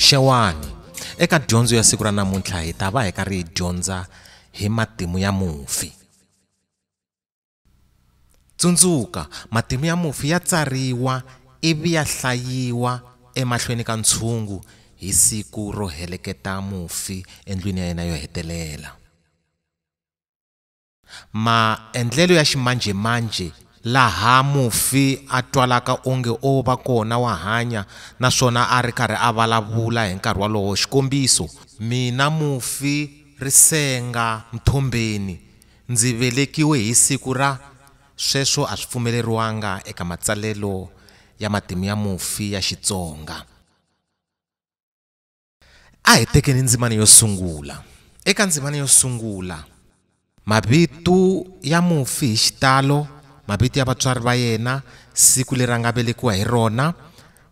xewani eka dyondzo ya siku ra namuntlha hi ta va hi karhi hi dyondza hi matimu ya mufi tsundzuka matimu ya mufi ya tsariwa ivi ya hlayiwa emahlweni ka ntshungu hi siku ro heleketa mufi endlwini ya yena yo hetelela maendlelo ya ximanjhemanjhe laha mufi a twalaka onge o va kona wa hanya naswona a ri karhi a vulavula hi nkarhi wolowo xikombiso mina mufi ri senga mthombeni ndzi velekiwe hi siku ra sweswo a swi pfumeleriwanga eka matsalelo ya matimu ya mufi ya Xitsonga. a hi tekeni ndzimana yo sungula eka ndzimana yo sungula mavito ya mufi hi xitalo mavito ya vatswari va yena siku leri a nga velekiwa hi rona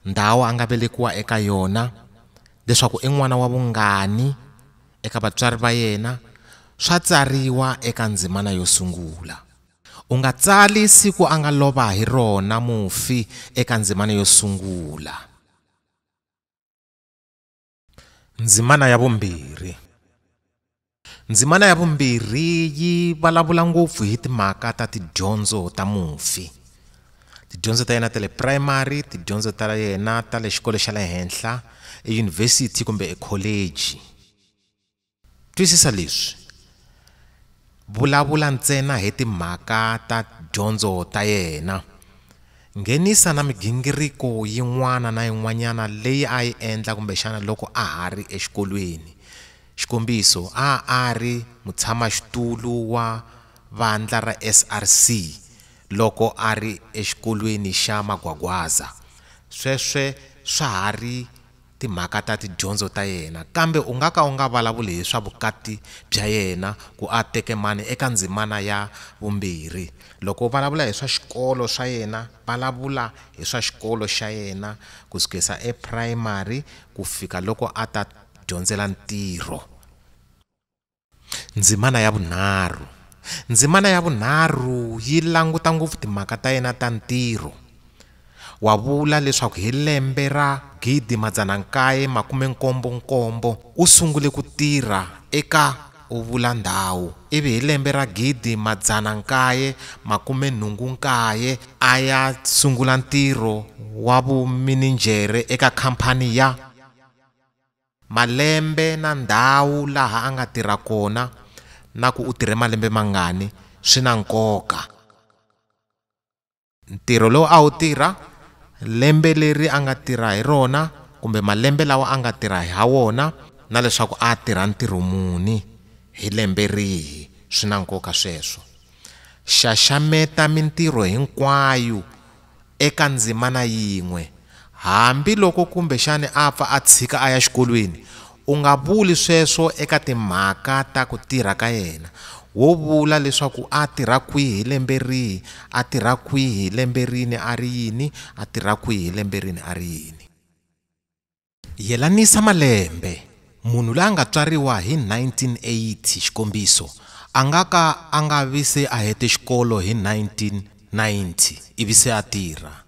ndhawu a nga velekiwa eka yona leswaku i n'wana wa vungani eka vatswari va yena swa tsariwa eka ndzimana yo sungula u nga tsali siku a nga lova hi rona mufi eka ndzimana yo sungula Ndzimana ya vumbirhi. Ndzimana ya vumbirhi yi vulavula ngopfu hi timhaka ta tidyondzo ta mufi. Tidyondzo ta yena ta le primary, tidyondzo ta yena ta le xikolo xa le henhla, eyunivhesiti kumbe ekholeji. Twisisa leswi, Vulavula ntsena hi timhaka ta dyondzo ta yena. Nghenisa na migingiriko yin'wana na yin'wanyana leyi a yi endla kumbexana loko a ha ri exikolweni. Xikombiso, a a ri mutshamaxitulu wa vandla ra SRC loko a ri exikolweni xa Magwagwaza. Sweswo swa ha ri. timhaka ta tidyondzo ta yena, kambe u nga ka u nga vulavuli hi swa vukati bya yena ku a teke mani eka ndzimana ya vumbirhi. Loko u vulavula hi swa xikolo swa yena, vulavula hi swa xikolo xa yena ku sukisa eprayimari ku fika loko a ta dyondzela ntirho. Ndzimana ya vunharhu, Ndzimana ya vunharhu yi languta ngopfu timhaka ta yena ta ntirho. Wa vula leswaku hi lembe ra 1977 u sungule ku tirha eka u vula ndhawu ivi hi lembe ra 1989 a ya sungula ntirho wa vumininjhere eka khamphani ya. Malembe na ndhawu laha a nga tirha kona na ku u tirhe malembe mangani swi na nkoka. Ntirho lowu a wu tirha, lembe leri a nga tirha hi rona kumbe malembe lawa a nga tirha ha wona na leswaku a tirha ntirho muni hi lembe rihi swi na nkoka sweswo. Xaxameta mintirho hinkwayo eka ndzimana yin'we, hambi loko kumbexana a pfa a tshika a ya xikolweni, u nga vuli sweswo eka timhaka ta ku tirha ka yena, wo vula leswaku a tirha kwihi, lembe rihi a tirha kwihi, lembe rini a ri yini a tirha kwihi, lembe rini a ri yini. Yelanisa malembe, Munhu la nga tswariwa hi 1980, xikombiso, a nga ka a nga vi se a hete xikolo hi 1990 ivi se a tirha.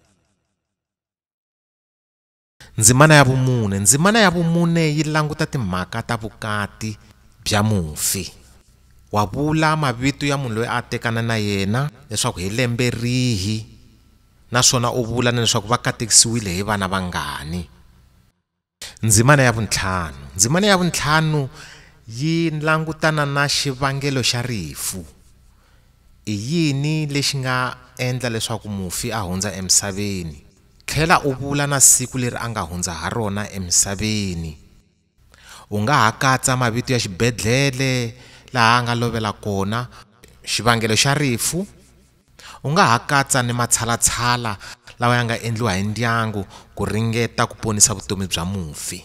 Ndzimana ya vumune, Ndzimana ya vumune yi languta timhaka ta vukati bya mufi. Wa vula mavito ya munhu loyi a tekana na yena leswaku hi lembe rihi. Naswona u vula na leswaku va katekisiwile hi vana vangani. Ndzimana ya vuntlhanu. Ndzimana ya vuntlhanu yi langutana na xivangelo xa rifu. I yini lexi nga endla leswaku mufi a hundza emisaveni? Tlhela u vula na siku leri a nga hundza ha rona emisaveni. U nga ha katsa mavito ya xibedhlele laha a nga lovela kona, xivangelo xa rifu, u nga ha katsa ni matshalatshala lawa ya nga endliwa hi ndyangu ku ringeta ku ponisa vutomi bya mufi.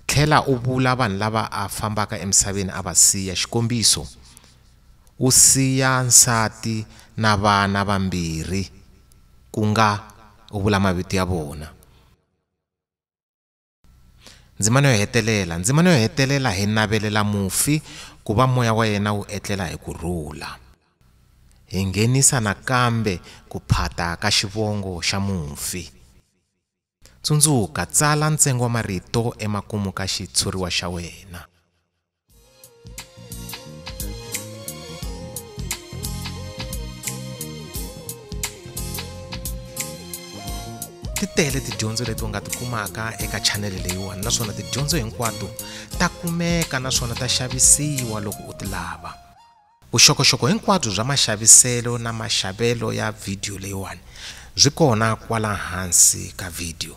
Tlhela u vula vanhu lava a fambaka emisaveni a va siya, xikombiso, u siya nsati na vana vambirhi, ku nga u vula mavito ya vona. Ndzimana yo hetelela, Ndzimana yo hetelela hi navelela mufi ku va moya wa yena wu etlela hi ku rhula. Hi nghenisa nakambe ku phata ka xivongo xa mufi. Tsundzuka, tsala ntsengo wa marito emakumu ka xitshuriwa xa wena. ti tele tidyondzo leti u nga ti kumaka eka chanele leyiwani naswona tidyondzo hinkwato ta kumeka naswona ta xavisiwa loko u ti lava vuxokoxoko hinkwabyo bya maxaviselo na maxavelo ya vhidiyo leyiwani byi kona kwala hansi ka vhidiyo